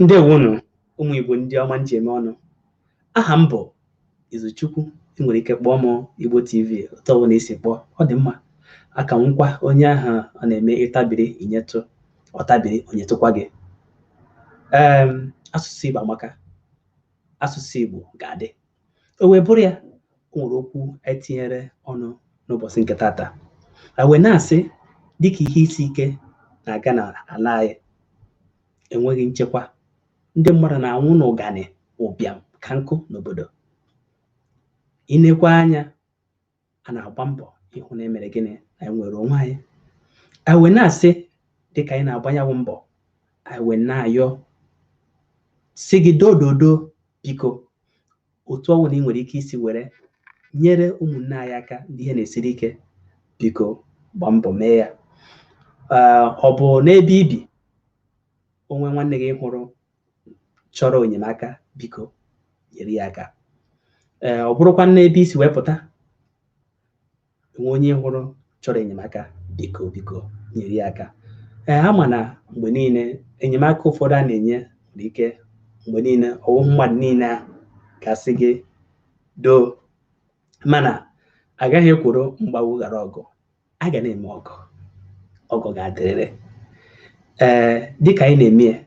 ndewonu ụmụ Igbo ndị ọma m ji eme ọnụ aha m bụ Izuchukwu ị nwere ike kpọọ m Igbo TV otu ọbụla i si kpọọ ọ dị mma aka m nkwa onye ahụ ọ na-eme ị tabiri i nyetụ ọ tabiri o nyetụkwa gị ee asụsụ Igbo amaka asụsụ Igbo ga-adị o wee bụrụ ya o nwere okwu anyị tinyere ọnụ n'ụbọchị nke tata a wee na-asị dịka ihe isi ike na-aga n'ala anyị enweghị nchekwa ndị mmadụ na-anwụ n'ụganị ụbịam ka nkụ n'obodo i nekwa anya a na-agba mbọ ịhụ na e mere gịnị na anyị nwere onwe anyị anyị wee na-asị dịka anyị na-agba nyawụ mbọ anyị wee na-ayọ sị gị dododo biko otu ọ bụla ị nwere ike isi were nyere ụmụnne anyị aka ndị ihe na-esiri ike biko gbaa mbọ mee ya Ee, ọ bụ n'ebe i bi o nwee nwanne gị ị hụrụ chọrọ enyemaka biko nyere ya aka ee ọ bụrụkwa n'ebe i si wee pụta o nwee onye ị hụrụ chọrọ enyemaka biko biko nyere ya aka ee a ma na mgbe niile enyemaka ụfọdụ a na-enye nwere ike mgbe niile ọ wụ mmadụ niile a ga-asị gị doo mana a gaghị ekworo mgbagbu ghara ọgụ a ga na-eme ọgọ ọgọ ga-adịrịrị ee dịka anyị na-eme ya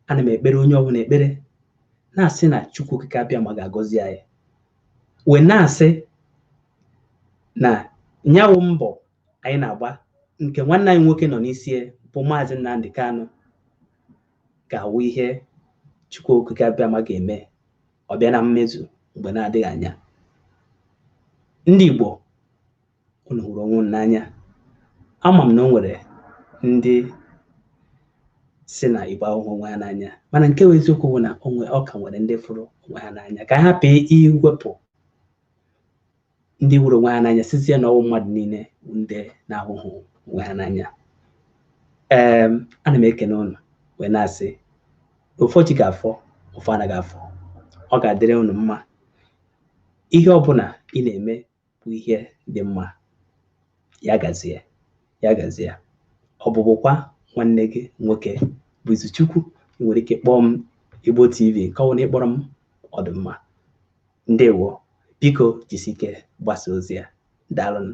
ana m ekpere onye ọbụla ekpere na-asị na chukwu okike abịama ga-agọzi anyị wee na-asị na nyawụ mbọ anyị na-agba nke nwanne anyị nwoke nọ n'isi ya bụ maazị Nnamdi Kanu ga-awụ ihe chukwu okike abịama ga-eme ọ bịa na mmezu mgbe na-adịghị anya ndị Igbo unu hụrụ onwe unu n'anya ama m na o nwere ndị sị na igbo ahụhụ onwe ha n'anya mana nke bụ eziokwu bụ na o nwe ọ ka nwere ndị fụrụ onwe ha n'anya ka a hapụ iwepụ ndị hụrụ onwe ha n'anya sịzie na ọ wụ mmadụ niile bụ ndị na-ahụhụ onwe ha n'anya ee ana m ekene ụnụ wee na-asị ụfọ ji ga-afọ ụfọ anaghị afọ ọ ga-adịrị ụnụ mma ihe ọbụla ị na-eme bụ ihe dị mma ya gazie ya gazie ọ bụbụkwa nwanne gị nwoke bụ Izuchukwu ị nwere ike kpọọ m Igbo TV nke ọwụna ị kpọrọ m ọ dụ mma ndewo biko jisi ike gbasa ozi a daalụnụ